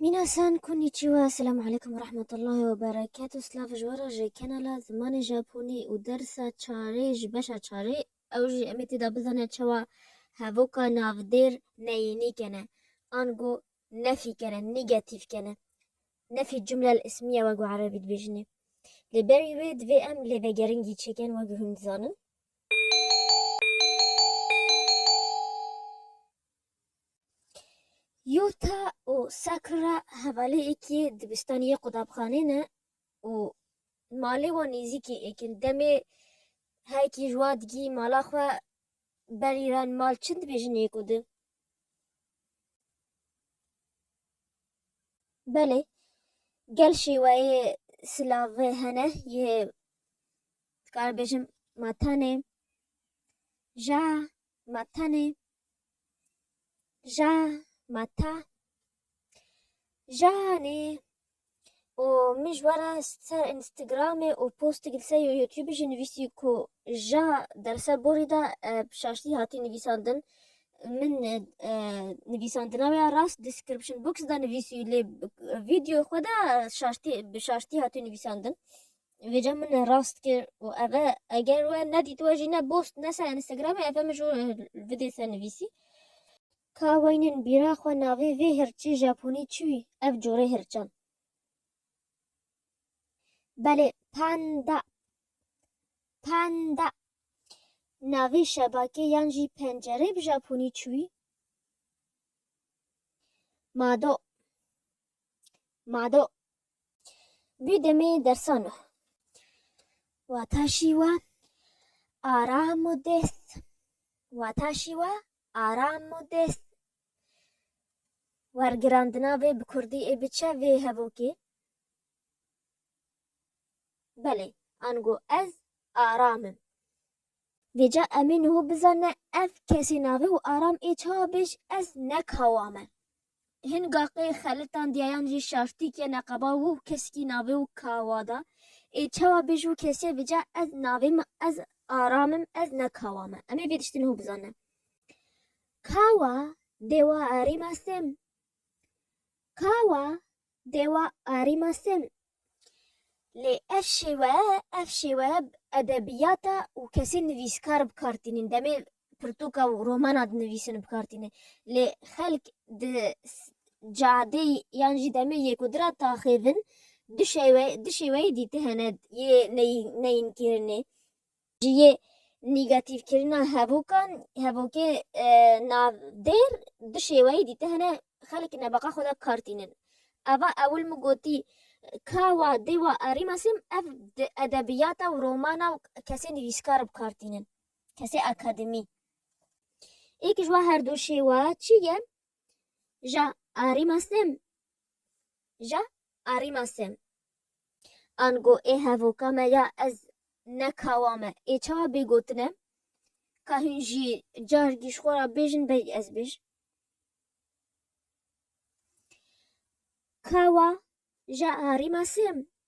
Minasan konnichiwa, selam aleykum ve rahmetullahi ve berekatu, silav ji we re ji kanala Zimanê Japonî û dersa çarê ji beşa çarê ew jî em ê têda bizanin çawa hevoka navdêr neyînî kene ango nefî kene, nîgetîf kene, nefî cumle el ismîye wek bi erebî dibêjinê. Lê berî wê divê em lêvegeringî çêkin wek hûn dizanin. Yota û Sakura hevaleyekî dibistanî yê qutabxanê ne û malê wan nêzîkî yek in. Demê herkî ji wa digihî mala xwe berî re in. Mal çin dibêjin yek û du. Belê gel şêweyê silavê hene yê dikaribêjim matanê, ja, Ma tenê ja ma ta janê û min ji we re ser Instagramê û postik li ser YouTubeê jî nivîsî ku ja derser borî de bi şaştî hatî nivîsandin. Min nivîsandina wê ya rast description box de nivîsî lê videoya xwe de şaştî bi şaştî hatî nivîsandin. Vêca min e rast kir û ev e eger we nedîtiwe jî ne post ne ser Instagramê ev e min ji we vidê te nivîsî. Ka weynên bîra xwe navê vê hirçê Japonî çi wî ev corê hirçan? Belê Panda Panda Navê şebakê yan jî pencerê bi Japonî çi wî? Mado. Mado bî demê dersano. Wata şîwa aram û dêst. Wata şîwa aram û dêst. Wergirandina vê bi kurdî ê bi çe vê hevokê? Belê, ango ez aram im. Vêca emê niho bizane ev kesê navê û aram ê çawa bêj ez ne kawa me. Hin gaqê xelitan diyayan jî şaştîk ye neqeba wû keskî navê û kawa da ê çawa bêj wû kesê vêca ez navê me ez aram im ez ne kawa me. Emê vê tiştê niho bizane. Kawa dewa erî me sêm. Kawa Dewa Arîma Sem. Lê ev şêwe, ev şêwe edebiyata û kesên nivîskar bi kar tînin. Demê pirtûka û romana dinivîsin bi kar tînin. Lê xelk di cadeyî yan jî demê yêkudira taxêvin du şêweyê dîti hene yê neyînkirînê. Ji yê nîgatîfkirina hevûkan, hevokê navdêr du şêweyî dîte hene, xelk nebeqa xwe de kar tînin. Eva ewil min gotî ka wa dê wa erîmasîm ev di edebiyata û romana û kesê nivîskar bi kar tînin, kesê akademî. Êkij wa her du şêwa çi ye? Ja erîmasîm ja arîma sêm. Ango ê hevoka me ya ez ne kawa me ê çawa bê gotine ka hûn jî car gî ji xwe ra bêjin belkî ez bêj. Kawa ja arîma sêm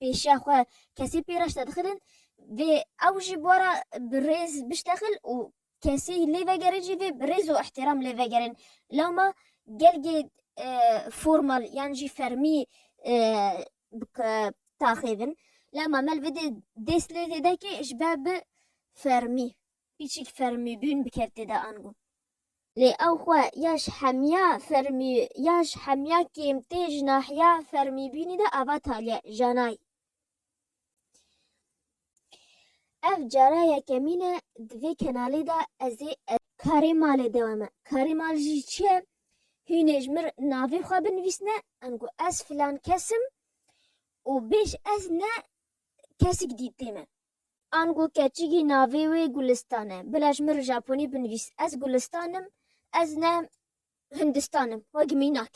pêşiya xwe kesê pê re ştedixilin vê ew jî bora bi rêz biştexil û kesê lê vegerin jî vê bi rêz û îhtîram lê vegerin. Lewma gelgê formal yan jî fermî bi taxê bin. Lewma me li vê dê dêst lê vedekê ji ber bi fermî. Piçik fermî bûn bi kertê de ango. Lê ew xwe ya ji hemiya fermî ya ji hemiya kêmtê ji nahiya fermîbûnê de ava Talya Janay. Ev cara yekemîn e di vê kenalê de ez ê. Karê malê dewame. Karê mal jî çi ye? Hûnê ji mir navê xwe binivîsne ango ez filan kes im û bêj ez ne kesik dîtê me. Ango keçikî navê wê Gulistan e. Bilej min Japonî binivîs. Ez Gulistan im, ez ne Hindistan im. Wek mînak.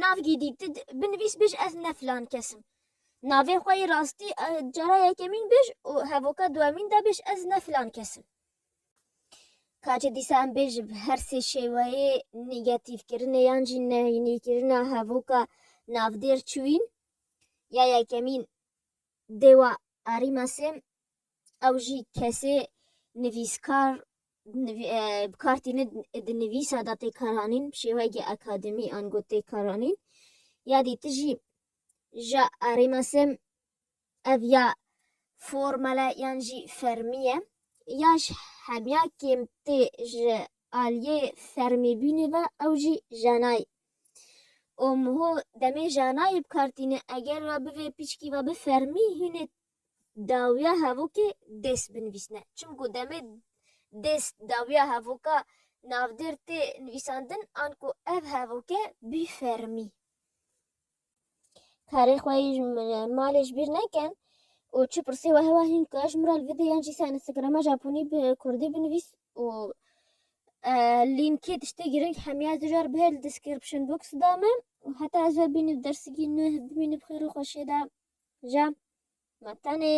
Navgî dî ti binivîs bêj ez ne filan kes im. Navê xwe yê rastî cara yekemîn bêj û hevoka duwemîn de bêj ez ne filan kes im. Ka çi dîsa em bêj bi her sê şêweyê nîgetîfkirinê yan jî nehînîkirina hevoka navdêr çûyîn ya yekemîn Dewa Arîma Sêm ew jî kesê nivîskar bi kar tîne di nivîsa de tê karanîn bi şêweyekî akademî ango tê karanîn. Ya dî tu jî ji Arîma Sêm ev ya formal e yan jî fermî ye ya ji hemiya kêm tê ji aliyê fermîbûnê ve ew jî jenayî û muho demê janayê bi kar tîne eger we bivê pîçkî ve bi fermî hînê dawiya hevokê dêst binivîsne çimku demê dêst dawiya hevoka navdêr tê nivîsandin anku ev hevoke bî fermî. Karê xwe yê ji malê ji bîr nekin û çi pirsî wehe we hîn ku ez ji min re li vîdê yan jî ser Instagrama Japonî bi Kurdî binivîs û lînkê tiştê girîng hemiya zijar bihê li description box da me û heta ez ve bînî dersikî nû bimînî bi xêr û xweşiyê de ja me tenê.